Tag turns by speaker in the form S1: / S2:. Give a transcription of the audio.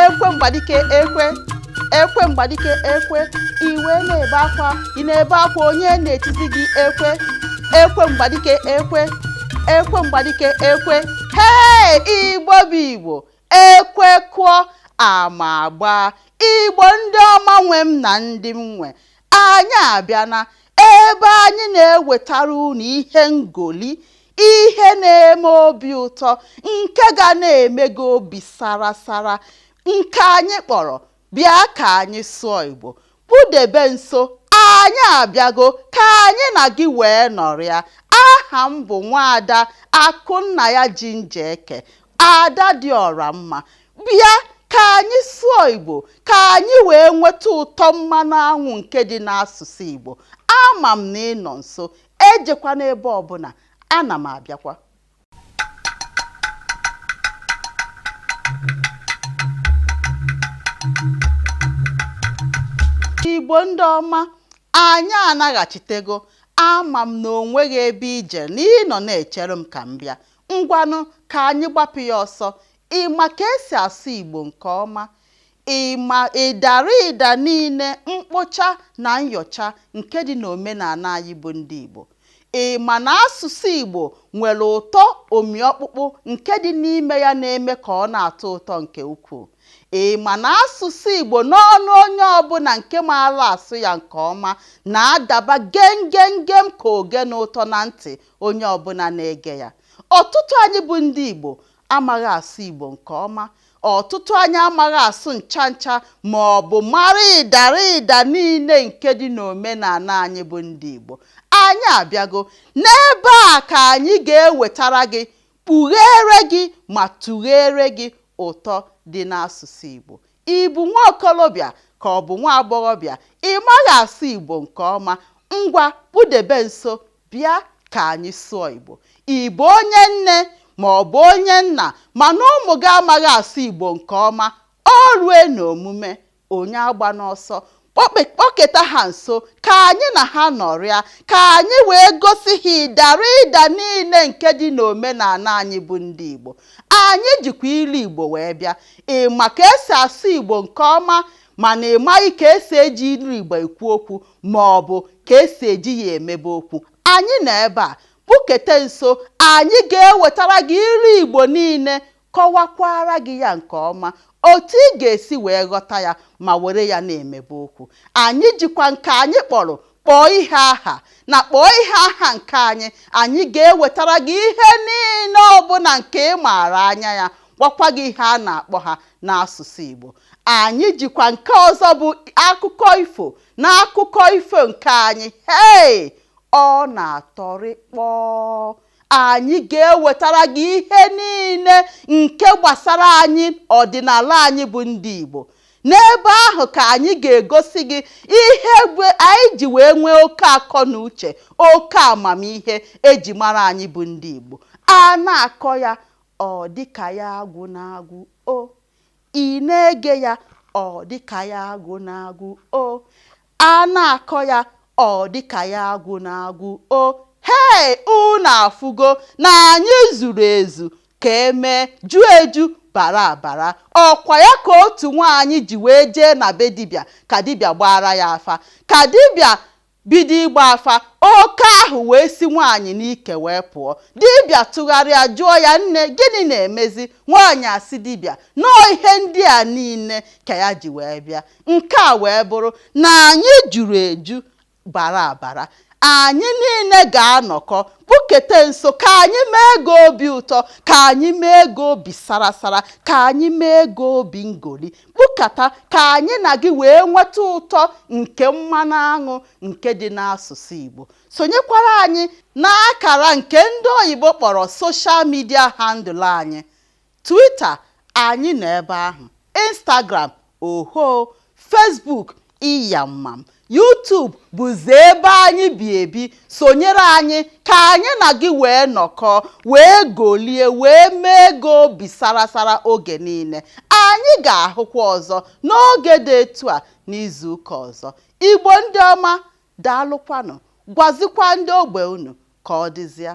S1: ekwe mgbadike ekwe ekwe mgbadike ekwe iwe na-ebe akwa ị na-ebe akwa onye na-etizi gị ekwe ekwe mgbadike ekwe ekwe mgbadike ekwe hee igbo bụ igbo Ekwe kụọ, ama agbaa, Igbo ndị ọma nwe m na ndị m nwe, anyị abịana ebe anyị na-ewetara unu ihe ngoli, ihe na-eme obi ụtọ nke ga na-eme gị obi sara sara nke anyị kpọrọ Bịa ka anyị sụọ Igbo. Kpudebe nso, anyị abịago ka anyị na gị wee nọrịa. Aha m bụ Nwaada Akụnnaya Jinjeke, ada dị ọra mma. Bịa ka anyị sụọ Igbo ka anyị wee nweta ụtọ mmanụ anwụ nke dị n'asụsụ Igbo. Ama m na ị nọ nso, ejekwana ebe ọbụna, ana m abịakwa. igbo ndị ọma anyị anaghachitego ama m na o nweghị ebe i je na ị nọ na-echere m ka m bịa ngwanụ ka anyị gbapụ ya ọsọ ị ma ka esi asụ igbo nke ọma ị ma ịdara ịda niile mkpocha na nyocha nke dị n'omenana anyị bụ ndị Igbo. Ị ma na asụsụ Igbo nwere ụtọ omi ọkpụkpụ nke dị n'ime ya na-eme ka ọ na-atọ ụtọ nke ukwuu. Ị ma na asụsụ Igbo n'ọnụ onye ọbụna nke maara asụ ya nke ọma na-adaba gem gem gem ka ogene ụtọ na ntị onye ọbụna na-ege ya. Ọtụtụ anyị bụ ndị Igbo amaghị asụ Igbo nke ọma ọtụtụ anyị amaghị asụ ncha ncha ma ọ bụ mara ịdara ịda niile nke dị n'omenana anyị bụ ndị Igbo anyị abịago n'ebe a ka anyị ga-ewetara gị kpugheere gị ma tụgheere gị ụtọ dị n'asụsụ Igbo ị bụ nwa okolobịa ka ọ bụ nwa agbọghọbịa ị maghị asụ Igbo nke ọma ngwa kpudebe nso Bịa ka anyị sụọ Igbo. Ị bụ onye nne ma ọ bụ onye nna mana ụmụ gị amaghị asụ Igbo nke ọma, o rue n'omume, onye agbana ọsọ, kpọketa ha nso ka anyị na ha nọrịa, ka anyị wee gosi ha ịdara ịda niile nke dị n'omenana anyị bụ ndị Igbo. Anyị jikwa ilu Igbo wee bịa. Ị ma ka esi asụ Igbo nke ọma mana ị maghị ka esi eji ilu Igbo ekwu okwu, ma ọ bụ ka e si eji ya emebe okwu, anyị nọ ebe a, kpukete nso, anyị ga-ewetara gị ilu Igbo niile, kọwakwaara gị ya nke ọma otu ị ga-esi wee ghọta ya ma were ya na-emebe okwu. Anyị jikwa nke anyị kpọrọ kpọọ ihe aha na kpọọ ihe aha nke anyị, anyị ga-ewetara gị ihe niile ọbụna nke ị maara anya ya, gwakwa gị ihe a na-akpọ ha n'asụsụ Igbo. anyị jikwa nke ọzọ bụ akụkọ ifo n'akụkọ ifo nke anyị hei ọ na-atọrị kpọọ anyị ga-ewetara gị ihe niile nke gbasara anyị ọdịnala anyị bụ ndị Igbo n'ebe ahụ ka anyị ga-egosi gị ihe anyị ji wee nwee oke akọ na uche oke amamihe e ji mara anyị bụ ndị Igbo a na-akọ ya ọ dịka ya agwụna agwụ o Ị na-ege ya, ọ dị ka ya agwụna agwụ o. A na-akọ ya, ọ dị ka ya agwụna agwụ o. Hei! Unu afụgo na anyị zuru ezu ka e mee, ju eju, bara abara. Ọ kwa ya ka otu nwaanyị ji wee jee na be dibịa ka dibịa gbaara ya afa. Ka dibịa bido ịgba afa, oke ahụ wee si nwaanyị n'ike wee pụọ. Dibịa tụgharịa jụọ ya, Nne, gịnị na-emezi? Nwaanyị asị dibịa na ọ ihe ndị a niile ka ya ji wee bịa. Nke a wee bụrụ na anyị juru eju bara abara. Anyị niile ga-anọkọ kpukete nso ka anyị mee gị obi ụtọ, ka anyị mee gị obi sara sara, ka anyị mee gị obi ngoli. Kpukata ka anyị na gị wee nweta ụtọ nke mmanụ aṅụ nke dị n'asụsụ Igbo. Sonyekwara anyị n'akara nke ndị oyibo kpọrọ social media handle anyị, Twitter, anyị nọ ebe ahụ, Instagram, ohoo, Facebook, Iyamam YouTube bụzi ebe anyị bi ebi sonyere anyị ka anyị na gị wee nọkọọ wee golie wee mee gị obi sarasara oge niile anyị ga-ahụkwa ọzọ n'oge dị etu a n'izu ụka ọzọ Igbo ndị ọma daalụkwanụ gwazikwa ndị ogbe unu ka ọ dịzịa